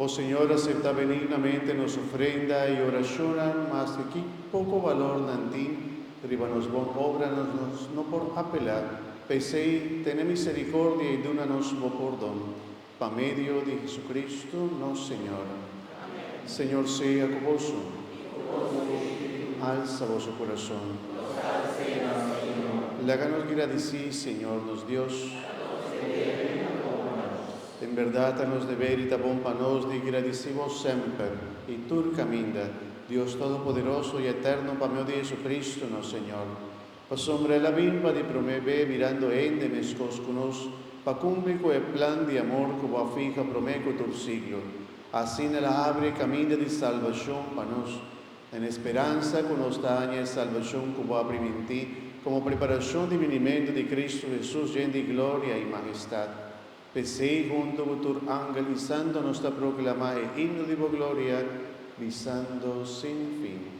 O Señor, asepta benignamente nos ofrenda y oracionnan, mas di ki poco valor nan tin riba nos bon obranan nos no por apela. P'esey, tene misericordia y duna nos bo pordon. Pa medio di Jesucristo nos Señor. Señor sea cu boso. Alsa boso curason. Laga nos gradici Señor nos Dios. En berdad a nos deber y ta bon pa nos di gradici bo semper y tur caminda, Dios Todopoderoso y Eterno, pa medio di Jesucristo nos Señor. Pasobra el a bin pa di promé be mirando hende meskos ku nos, pa kumpli ku e plan di amor ku bo a fiha promé ku tur siglo. Asina el a abri e kaminda di salbashon pa nos, den e speransa ku nos ta haña e salbashon ku bo a primintí komo preparashon di binimentu di Kristu Hesus yen di gloria i mahistat. P'esei, huntu ku tur angel i santu nos ta proklamá e himno di bo gloria, bisando sin fin.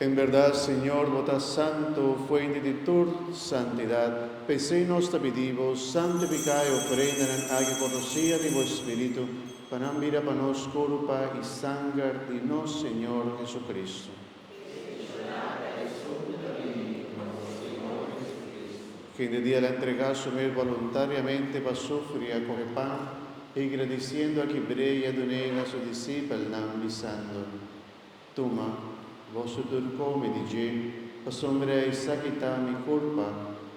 En berdad, Señor, bo ta santo, fuente di tur santidad. P'esei nos ta pidi bo, santifica e ofrendanan aki cu rocia di bo Spiritu, pa nan bira pa nos curpa i sanger di nos Señor Jesucristo. Hende di el a entrega su mes boluntariamente pa sufri i a kohe pan, higra di siendo aki brei i a dun'ei na su disipelnan, bisando, Tuma, boso tur kome di dje, pasobra esaki ta mi kurpa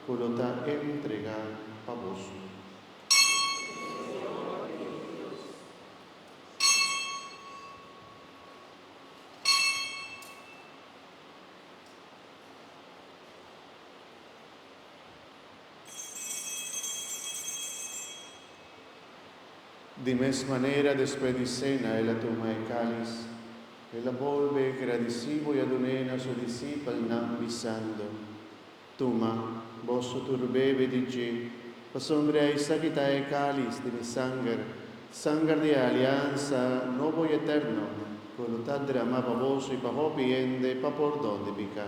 ku lo ta entrega pa boso. Di mes manera despues di sena el a tuma e kalis, el a bolbe gradisí bo i a dun'é na su disipelnan bisando, Tuma, boso tur bebe di dje, pasobra esaki ta e kalis di mi sanger, sanger di e aliansa nobo i eterno, ku lo ta dramá pa boso i pa hopi hende pa pordon di piká.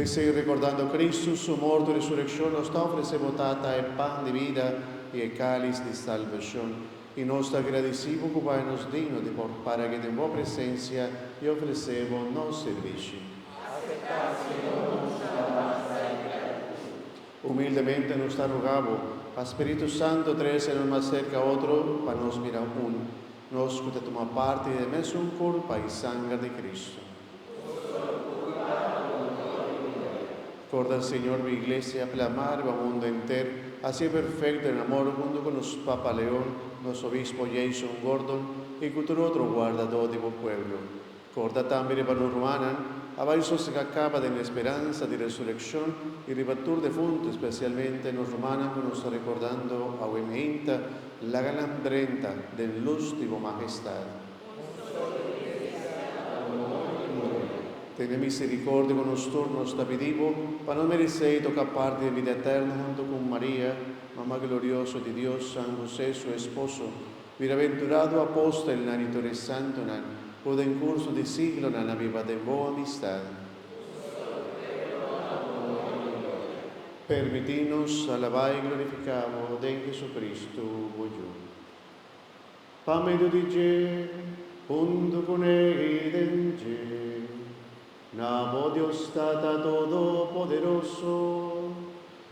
P'esei, rekordando Kristu, Su morto i resurekshon, nos ta ofresé bo, Tata, e pan di bida i e kalis di salbashon. I nos ta gradisí bo ku bai nos digno di por para aki den bo presensia i ofresé bo nos sirbishi. Aseptá, Señor, nos alabansa i gratitud. Humildemente nos ta rogá bo pa Spiritu Santo trese nos mas serka otro pa nos mira un, nos ku ta tuma parti den e mesun korp pa i sanger di Kristu. Korda, Señor, bo Iglesia plamá riba mundu enter, hasié perfekt den amor huntu ku nos Papa Leon, nos Obispo Jason Gordon i ku tur otro guardadó di bo pueblo. Corda tambe riba nos rumannan, a bai sosega caba den e speransa di resureccion y riba tur defuntu, especialmente nos rumannan cu nos ta recordando awe meinta, laga nan drenta den luz di bo Magestad. Tene misericordia cu nos tur, nos ta pidi bo, pa no merecey toca parti den vida eterno hunto cu Maria, Mama Glorioso di Dios, San Jose, su esposo, Bienaventurado apostelnan i tur e santunan ku den kurso di siglonan a biba den bon amistad. Permití nos alabá i glorifiká bo den Hesukristu, bo Yu. Pa medio di dje, huntu ku ne i den dje, na bo Dios Tata Todopoderoso.